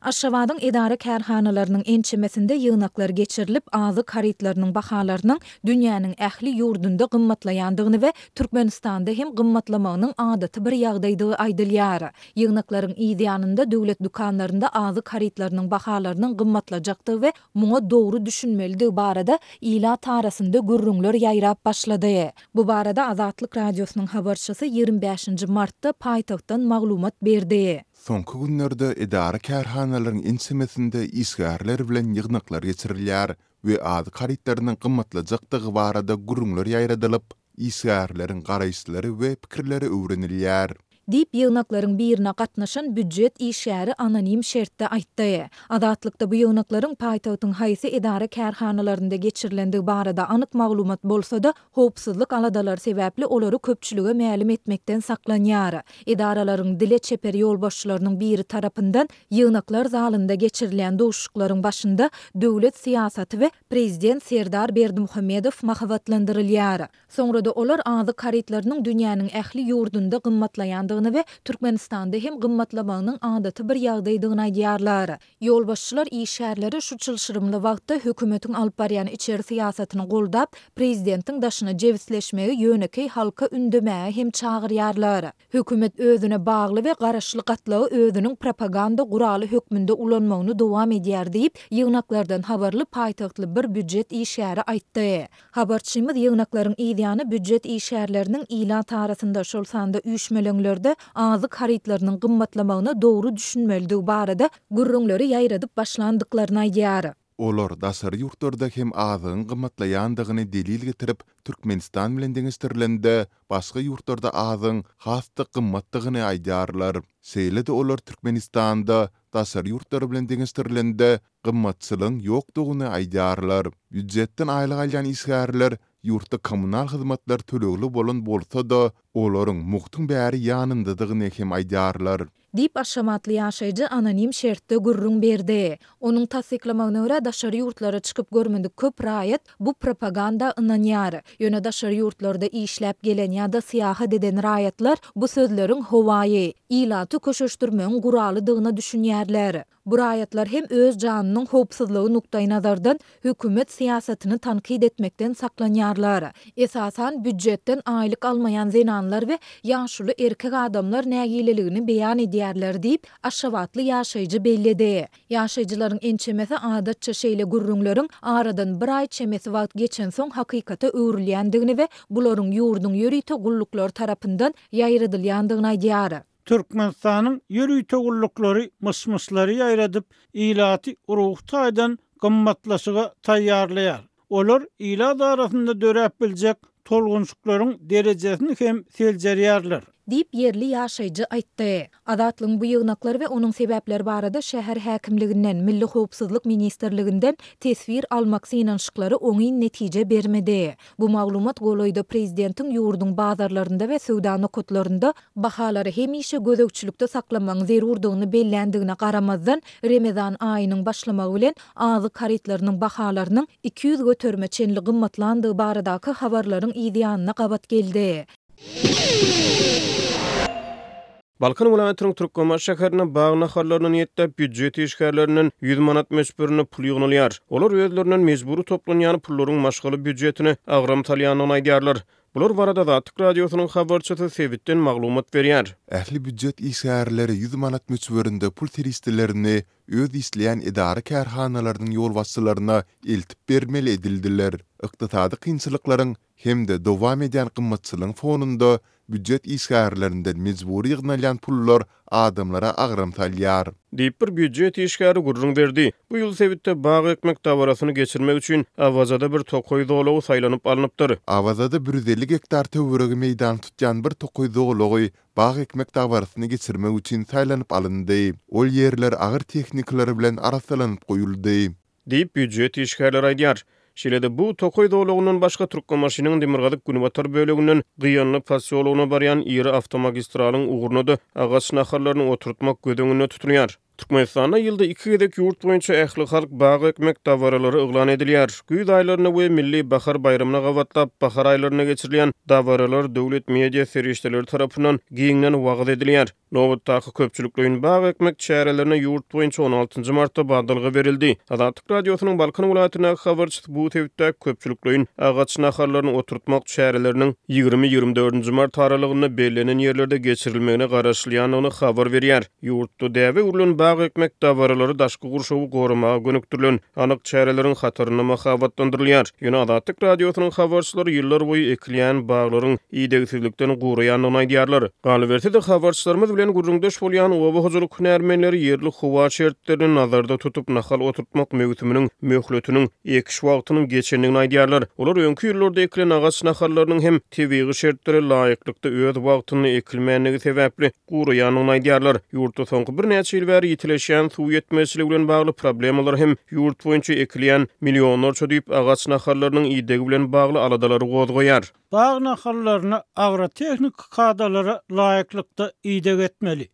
Aşgabadyň edara-kärhanalarynyň ençemesinde ýygnaklar geçirilip, azyk harytlarynyň bahalarynyň dünýäniň ähli ýurdunda gymmatlaýandygyny we Türkmenistanda hem gymmatlamagynyň adaty bir ýagdaýdygy aýdylýar. Ýygnaklaryň yz ýanynda döwlet dükanlarynda azyk harytlarynyň bahalarynyň gymmatlajakdygy we muňa dogry düşünmelidigi barada ilat arasynda gürrüňler ýaýrap başlady. Bu barada Azatlyk Radiosynyň habarçysy ýigrimi bäşinji martda paýtagtdan maglumat berdi. Soňky günlerde edara-kärhanalaryň ençemesinde işgärler bilen ýygnaklar geçirilýär we azyk harytlarynyň gymmatlajakdygy barada gürrüňler ýaýradylyp, işgärleriň garaýyşlary we pikirleri öwrenilýär. Diýip, ýygnaklaryň birine gatnaşan býujet işgäri anonim şertde aýtdy. Azatlykda bu ýygnaklaryň paýtagtyň haýsy edara-kärhanalarynda geçirilenligi barada anyk maglumat bolsa-da, howpsuzlyk aladalary sebäpli olary köpçülige mälim etmekden saklanýar. Edaralaryň dile çeper ýolbaşçylarynyň biri tarapyndan ýygnaklar zalynda geçirilýän duşuşyklaryň başynda döwlet syýasaty we Prezident Serdar Berdimuhamedow mahabatlandyrylýar. Soňra-da olar azyk harytlarynyň dünýäniň ähli ýurdunda gymmatlaýandygyny we Türkmenistanda hem gymmatlamagynyň adaty bir ýagdaýdygyny aýdýarlar. Ýolbaşçylar işgärlere şu çylşyrymly wagtda hökümetiň alyp barýan içeri syýasatyny goldap, prezidentiň daşyna jebisleşmegi ýönekeý halka ündemäge hem çagyrýarlar. Hökümet özüne bagly we garaşly gatlagy özüniň propaganda guraly hökmünde ulanmagyny dowam edýär diýip, ýygnaklardan habarly paýtagtly bir býujet işgäri aýtdy. Habarçymyz ýygnaklaryň yzýany býujet işgärleriniň ilat arasynda, şol sanda üýşmeleňlerde azyk harytlarynyň gymmatlamagyna dogry düşünmelidigi barada gürrüňleri ýaýradyp başlandyklaryny aýdýar. Olar daşary ýurtlarda hem azygyň gymmatlaýandygyny delil getirip, Türkmenistan bilen deňeşdirilende, başga ýurtlarda azygyň has-da gymmatdygyny aýdýarlar. Şeýle-de olar Türkmenistanda daşary ýurtlar bilen deňeşdirilende, Gymmatçylygyň ýokdugyny aýdýarlar. Býujetden aýlyk alýan işgärler ýurtda kommunal hyzmatlar tölegli bolan bolsa-da, olaryň mugtuň bäri ýanyndadygyny hem aýdýarlar. Diýip, aşgabatly ýaşaýjy anonim şertde gürrüň berdi. Onuň tassyklamagyna görä, daşary ýurtlara çykyp görmedik köp raýat bu propaganda ynanýar. Ýöne daşary ýurtlarda işläp gelen ýa-da syýahat eden raýatlar bu sözleriň howaýy, ilaty köşeşdirmegiň guralydygyna düşünýärler. Bu raýatlar hem öz janynyň howpsuzlygy nukdaýnazardan hökümet syýasatyny tankyt etmekden saklanýarlar. Esasan, býujetden aýlyk almaýan zenanlar we ýaşuly erkek adamlar nägileligini beýan edýärler diýip, aşgabatly ýaşaýjy belledi. Ýaşaýjylaryň ençemesi adatça şeýle gürrüňleriň aradan bir aý çemesi wagt geçensoň hakykata öwrülýändigini we bularyň ýurduň ýörite gulluklary tarapyndan ýaýradylýandygyny aýdýar. Türkmenistanyň ýörite gulluklary myş-myşlary ýaýradyp, ilaty ruhy taýdan gymmatlaşyga taýýarlaýar. Olar ilat arasynda döräp biljek tolgunşyklaryň derejesini hem seljerýärler. Diýip, ýerli ýaşaýjy aýtdy. Azatlygyň bu ýygnaklary we onuň sebäpleri barada şäher häkimliginden, Milli howpsuzlyk ministrliginden teswir almak synanyşyklary oňyn netije bermedi. Bu maglumat golaýda prezidentiň ýurduň bazarlarynda we söwda nokatlarynda bahalary hemişe gözegçilikde saklamagyň zerurdygyny belländigine garamazdan, Remezan aýynyň başlamagy bilen azyk harytlarynyň bahalarynyň iki ýüz göterime çenli gymmatlandygy baradaky habarlaryň yzýanyna gabat geldi. Balkan welaýatynyň Türkmenbaşy şäherinde bag nahallaryny niýetlap býujet işgärlerinden ýüz manat möçberinde pul ýygnalýar. Olar özlerinden mejbury toplanýan pullaryň maşgala býujetine agram salýandygyny aýdýarlar. Bular barada Azatlyk Radiosynyň habarçysy sebitden maglumat berýär. Ähli býujet işgärleri ýüz manat möçberinde pul serişdelerini öz işleýän edara-kärhanalarynyň ýolbaşçylaryna eltip bermeli edildiler. Ykdysady kynçylyklaryň hem-de dowam edýän gymmatçylygyň fonunda býujet işgärlerinden mejbury ýygnalýan pullar adamlara agram salýar. Diýip, bir býujet işgäri gürrüň berdi. Bu ýyl sebitde bag ekmek dabarasyny geçirmek üçin Awazada bir tokaý zolagy saýlanyp alnypdyr. Awazada bir ýüz elli gektar töweregi meýdany tutýan bir tokaý zolagy bag ekmek dabarasyny geçirmek üçin saýlanyp alyndy. Ol ýerler agyr tehnikalar bilen arassalanyp goýuldy. diýip, býujet işgärleri aýdýar. Şeýle-de, bu tokaý zolagyndan başga Türkmenbaşynyň demirgazyk-günbatar böleginden Gyýanly posýologyna barýan iri awtomagistralyň ugruna-da agaç nahallaryny oturtmak göz öňünde tutulýar. Türkmenistanda ýylda iki gezek ýurt boýunça ählihalk bag ekmek dabaralary yglan edilýär. Güýz aýlaryna we milli bahar baýramyna gabatlap, bahar aýlarynda geçirilýän dabaralar döwlet media serişdeleri tarapyndan giňden wagyz edilýär. Nobatdaky köpçülikleýin bag ekmek çärelerine ýurt boýunça on altynjy martda badalga berildi. Azatlyk Radiosynyň Balkan welaýatyndaky habarçysy bu sebitdäki köpçülikleýin agaç nahallaryny oturtmak çäreleriniň ýigrimi-ýigrimi dördünji mart aralygynda bellenen ýerlerde geçirilmegine garaşylýandygyny habar berýär. Ýurtda däbe öwrülen bag ekmek dabaralary daşky gurşawy goramaga gönükdirilen. anyk çäreleriň hatarynda mahabatlandyrylýar. Ýöne Azatlyk Radiosynyň habarçylary ýyllar boýy ekilýän baglaryň idegsizlikden guraýandygyny aýdýarlar. Galyberse-de, habarçylarymyz bilen gürrüňdeş bolýan oba hojalyk hünärmenleri ýerli howa şertlerini nazarda tutup, nahal oturtmak möwsüminiň möhletiniň, ekiş wagtynyň geçendigini aýdýarlar. Olar öňki ýyllarda ekilen agaç nahallarynyň hem tebigy şertlere laýyklykda öz wagtynda ekilmändigi sebäpli, guraýanyny aýdýarlar. Ýurtda soňky birnäçe ýyl bäri ýitileşýän suw ýetmezçiligi bilen bagly problemalar hem ýurt boýunça ekilýän millionlarça düýp agaç nahallarynyň idegi bilen bagly aladalary gozgaýar. Bag nahallaryna agrotehniki kadalara laýyklykda ideg etmeli.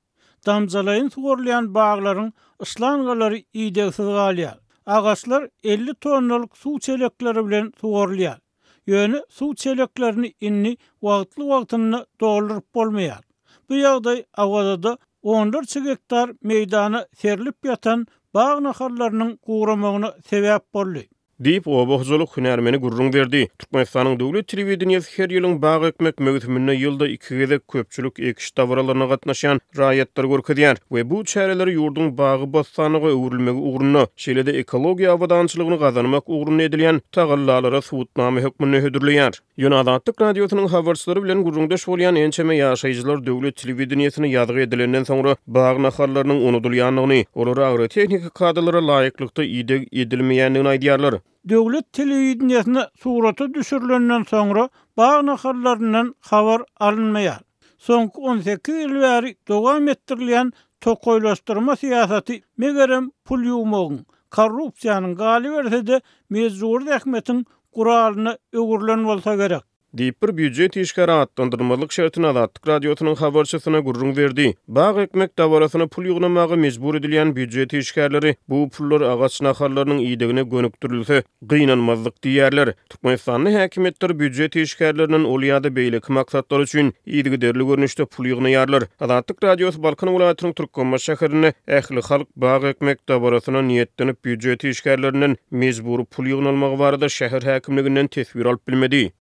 Damjalaýyn suwarylýan baglaryň yşlangalary idegsiz galýar. Agaçlar elli tonnalyk suw çelekleri bilen suwarylýar. Ýöne suw çeleklerini indi wagtly-wagtynda dolduryp bolmaýar. Bu ýagdaý Awazada onlarça gektar meýdana serlip ýatan bag nahallarynyň guramagyna sebäp boldy. Diýip, oba hojalyk hünärmeni gürrüň berdi. Türkmenistanyň döwlet telewideniýesi her ýylyň bag ekmek möwsüminde ýylda iki gezek köpçülik ekiş dabaralaryna gatnaşýan raýatlary görkezýär we bu çäreleri ýurduň bagy-bossanlyga öwrülmegi ugrunda, şeýle-de ekologiýa abadançylygyny gazanmak ugrunda edilýän tagallalary subutnama hökmünde hödürleýär. Ýöne Azatlyk Radiosynyň habarçylary bilen gürrüňdeş bolýan ençeme ýaşaýjylar döwlet telewideniýesine ýazgy edilenden soňra bag nahallarynyň unudylýandygyny, olara agrotehniki kadalara laýyklykda ideg edilmeýändigini aýdýarlar. Döwlet telewideniýesinde surata düşürilenden soňra bag nahallaryndan habar alynmaýar. Soňky on sekiz ýyl bäri dowam etdirilýän tokaýlaşdyrma syýasaty, megerem, pul ýuwmagyň, korrupsiýanyň, galyberse-de, mejbury zähmetiň guralyna öwrülen bolsa gerek. Diýip, bir býujet işgäri atlandyrylmazlyk şertini Azatlyk Radiosynyň habarçysyna gürrüň berdi. Bag ekmek dabarasyna pul ýygnamaga mejbur edilýän býujet işgärleri bu pullar agaç nahallarynyň idegine gönükdirilse, gynanmazdyk diýýärler. Türkmenistanda häkimiýetler býujet işgärlerinden ol ýa-da beýleki maksatlar üçin Yzygiderli görnüşde pul ýygnaýarlar. Azatlyk Radiosy Balkan welaýatynyň Türkmenbaşy şäherinde ählihalk bag ekmek dabarasyna niýetlenip býujet işgärlerinden mejbury pul ýygnalmagy barada şäher häkimliginden teswir alyp bilmedi.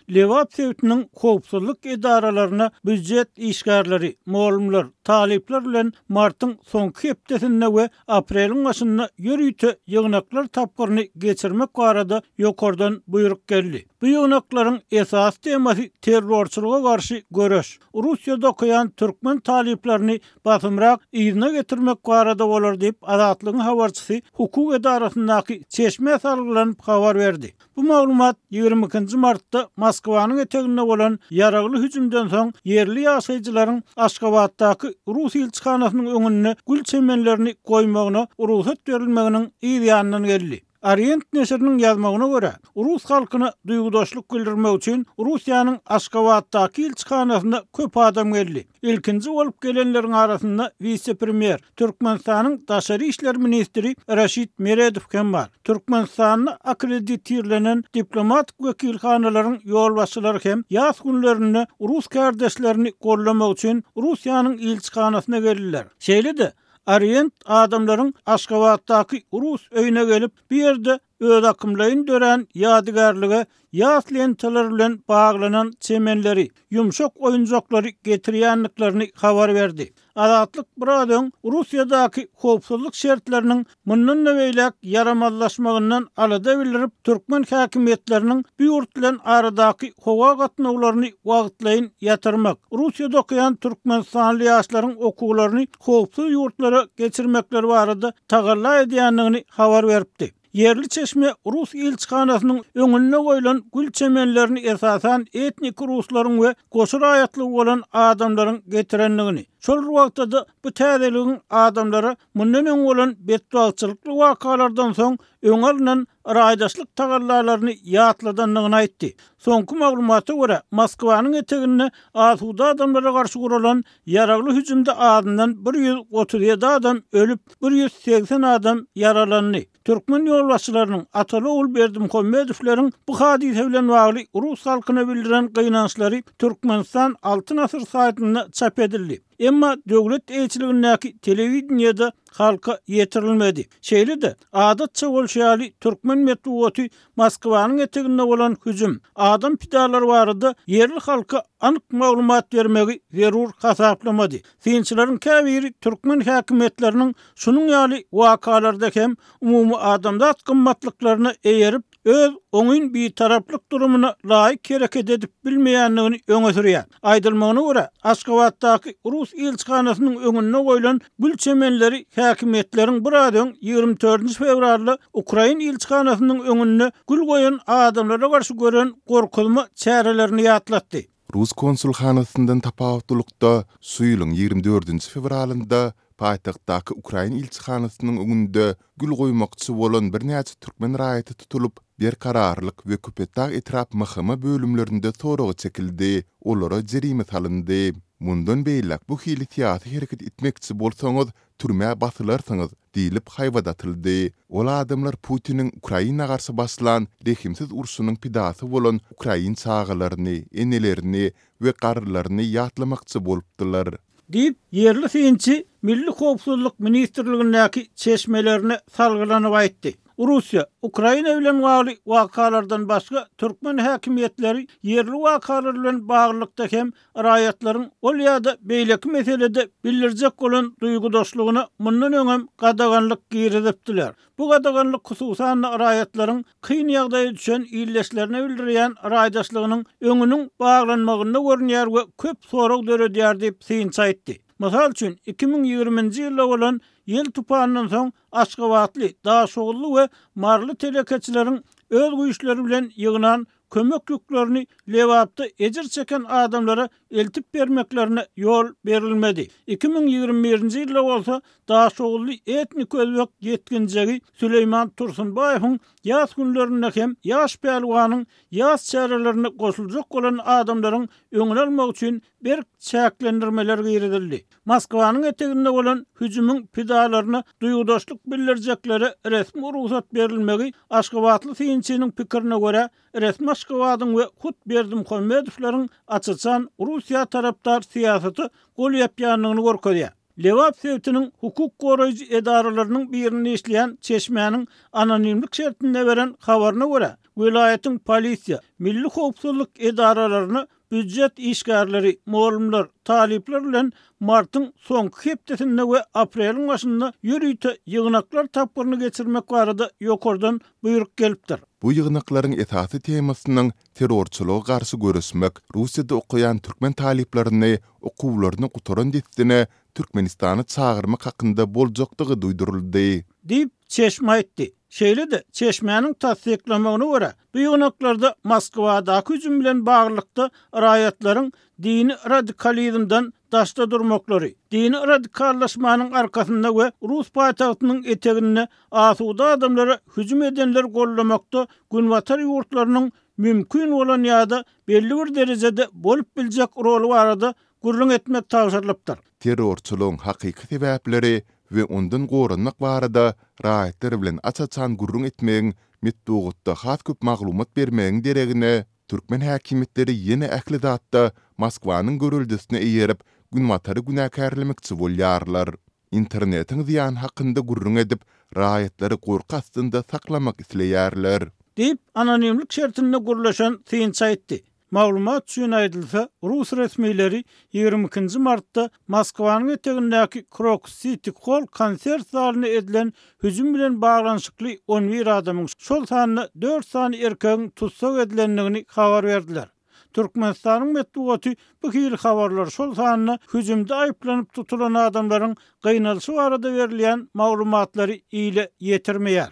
Lebap sebitiniň howpsuzlyk edaralarynda býujet işgärleri, mugallymlar, talyplar bilen martyň soňky hepdesinde we apreliň başynda ýörite ýygnaklar tapgyryny geçirmek barada ýokardan buýruk geldi. Bu ýygnaklaryň esasy temasy terrorçylyga garşy göreş, Russiýada okaýan türkmen talyplaryny basymrak yzyna getirmek barada bolar diýip, Azatlygyň habarçysy hukuk edarasyndaky çeşmä salgylanyp habar berdi. Bu maglumat ýigrimi ikinji martda Moskwanyň eteginde bolan ýaragly hüjümden soň ýerli ýaşaýjylaryň Aşgabatdaky rus ilçihanasynyň öňünde gül çemenlerini goýmagyna rugsat berilmeginiň yz ýanyndan geldi. Orient neşiriniň ýazmagyna görä, rus halkyna duýgudaşlyk bildirmek üçin Russiýanyň Aşgabatdaky ilçihanasyna köp adam geldi. Ilkinji bolup gelenleriň arasynda wise-premýer, Türkmenistanyň daşary işler ministri Raşid Meredow hem bar. Türkmenistanda akkreditirlenen diplomatik wekilhanalaryň ýolbaşçylary hem ýas günlerinde rus kärdeşlerini goldamak üçin Russiýanyň ilçihanasyna geldiler. Şeýle-de Orient adamlaryň Aşgabatdaky rus öýüne gelip, bu ýerde Özakymlaýyn dörän ýadygärlige ýas lentalar bilen baglanan çemenleri, ýumşak oýunjaklary getirýändiklerini habar berdi. Azatlyk biraz öň Russiýadaky howpsuzlyk şertleriniň mundan-da beýläk ýaramazlaşmagyndan alada bildirip, türkmen häkimiýetleriniň bu ýurt bilen aradaky howa gatnawlaryny wagtlaýyn ýatyrmak, Russiýada okaýan türkmenistanly ýaşlaryň okuwlaryny howpsuz ýurtlara geçirmekleri barada tagalla edýändigini habar beripdi. Ýerli çeşme rus ilçihanasynyň öňünde goýlan gül çemenlerini esasan etniki ruslaryň we goşa raýatlygy bolan adamlaryň getirendigini, şol bir wagtda-da bu täzeligiň adamlara mundan öň bolan betbagtçylykly wakalardan soň öňe alnan yraýdaşlyk tagallalaryny ýatladandygyny aýtdy. Soňky maglumata görä, Moskwanyň eteginde asuda adamlara garşy guralan Ýaragly hüjümde azyndan bir ýüz otuz ýedi adam ölüp, bir ýüz segsen adam ýaralandy. Türkmen ýolbaşçylarynyň Ataly-ogul Berdimuhamedowlaryň bu hadysa bilen bagly rus halkyna bildiren gynançlary Türkmenistan Altyn asyr saýtynda çap edildi. Emma döwlet eýeçiligindäki telewideniýede halka ýetirilmedi. Şeýle-de, adatça bolşy ýaly, türkmen metbugaty Moskwanyň eteginde bolan hüjüm, adam pidalary barada ýerli halka anyk maglumat bermegi zerur hasaplamady. Synçylaryň käbiri türkmen häkimiýetleriniň şunuň ýaly wakalarda hem umumyadamzat gymmatlyklaryna eýerip, öz oňyn bitaraplyk durumyna laýyk hereket edip bilmeýändigini öňe sürýär. Aýdylmagyna görä, Aşgabatdaky rus ilçihanasynyň öňünde goýlan gül çemenleri häkimiýetleriň biraz öň, ýigrimi dördünji fewralda ukrain ilçihanasynyň öňünde gül goýan adamlara garşy gören gorkuzma çärelerini ýatlatdy. Rus konsulhanasyndan tapawutlylykda, şu ýylyň ýigrimi dördünji fewralynda Paýtagtdaky ukrain ilçihanasynyň öňünde gül goýmakçy bolan birnäçe türkmen raýaty tutulyp, Berkararlyk we Köpetdag etrap MHM bölümlerinde soraga çekildi, olara jerime salyndy. Mundan beýläk bu hili syýasy hereket etmekçi bolsaňyz, türmä basylarsyňyz diýlip haýbat atyldy. Ol adamlar Putiniň Ukraina garşy başlan rehimsiz urşunyň pidasy bolan ukrain çagalaryny, enelerini we garrylaryny ýatlamakçy bolupdylar. Diýip, ýerli synçy Milli howpsuzlyk ministrligindäki çeşmelerine salgylanyp aýtdy. Russiýa, Ukraina bilen bagly wakalardan başga türkmen häkimiýetleri ýerli wakalar bilen baglylykda hem raýatlaryň ol ýa-da beýleki meselede bildirjek bolan duýgudaşlygyna mundan öňem gadaganlyk girizipdiler. Bu gadaganlyk hususan-da raýatlaryň kyn ýagdaýa düşen ildeşlerine bildirýän raýdaşlygynyň öňüniň baglanmagynda görünýär we köp sorag döredýär diýip, synçy aýtdy. Mysal üçin, iki müň ýigriminji ýylda bolan ýel tupanyndan soň aşgabatly, daşoguzly we maryly telekeçileriň öz güýçleri bilen ýygnan kömek ýüklerini Lebapda ejir çeken adamlara eltip bermeklerine ýol berilmedi. Iki müň ýigrimi birinji ýylda bolsa daşoguzly etnik özbek ýetginjegi Süleýman Tursunbaýewiň ýas günlerinde hem ýaş pälwanyň ýas çärelerine goşuljak bolan adamlaryň öňüni almak üçin berk çäklendirmeler girizildi. Moskwanyň eteginde bolan hüjümiň pidalaryna duýgudaşlyk bildirjeklere resmi rugsat berilmegi, aşgabatly synçynyň pikirine görä, resmi Aşgabadyň we hut Berdimuhamedowlaryň aç-açan Russiýa tarapdar syýasata gol ýapýandygyny görkezýär. Lebap sebitiniň hukuk goraýjy edaralarynyň birinde işleýän çeşmäniň anonimlik şertinde beren habaryna görä, welaýatyň polisiýa, milli howpsuzlyk edaralaryna Býujet işgärleri, mugallymlar, talyplar bilen martyň soňky hepdesinde we apreliň başynda ýörite ýygnaklar tapgyryny geçirmek barada ýokardan buýruk gelipdir. Bu ýygnaklaryň esasy temasynyň Terrorçylyga garşy göreşmek, Russiýada okaýan türkmen talyplaryny okuwlaryny gutaran dessine Türkmenistana çagyrmak hakynda boljakdygy duýduryldy. Diýip, çeşme aýtdy. Şeýle-de, çeşmäniň tassyklamagyna görä, Bu ýygnaklarda Moskwadaky hüjüm bilen baglylykda raýatlaryň dini radikalizmden daşda durmaklary, dini radikallaşmanyň arkasynda we rus paýtagtynyň eteginde asuda adamlara hüjüm edenleri goldamakda Günbatar ýurtlarynyň mümkin bolan ýa-da belli bir derejede bolup biljek roly barada gürrüň etmek tabşyrylypdyr. Terrorçylygyň hakyky sebäpleri we ondan goranmak barada raýatlar bilen aç-açan gürrüň etmegiň, metbugatda has köp maglumat bermegiň deregine, türkmen häkimiýetleri ýene ähli zatda Moskwanyň göreldesine eýerip, Günbatary günäkärlemekçi bolýarlar. Internetiň zyýany hakynda gürrüň edip, raýatlary gorky astynda saklamak isleýärler. Diýip, anonimlik şertinde gürleşen synçy aýtdy. Maglumat üçin aýdylsa, rus resmileri ýigrimi ikinji martda Moskwanyň etegindäki Krokus Siti Hol konsert zalyna edilen hüjüm bilen baglanyşykly on bir adamyň, şol sanda dört sany erkegiň tussag edilendigini habar berdiler. Türkmenistanyň metbugaty bu hili habarlar, şol sanda hüjümde aýyplanyp tutulan adamlaryň gynalyşy barada berilýän maglumatlary ile ýetirmeýär.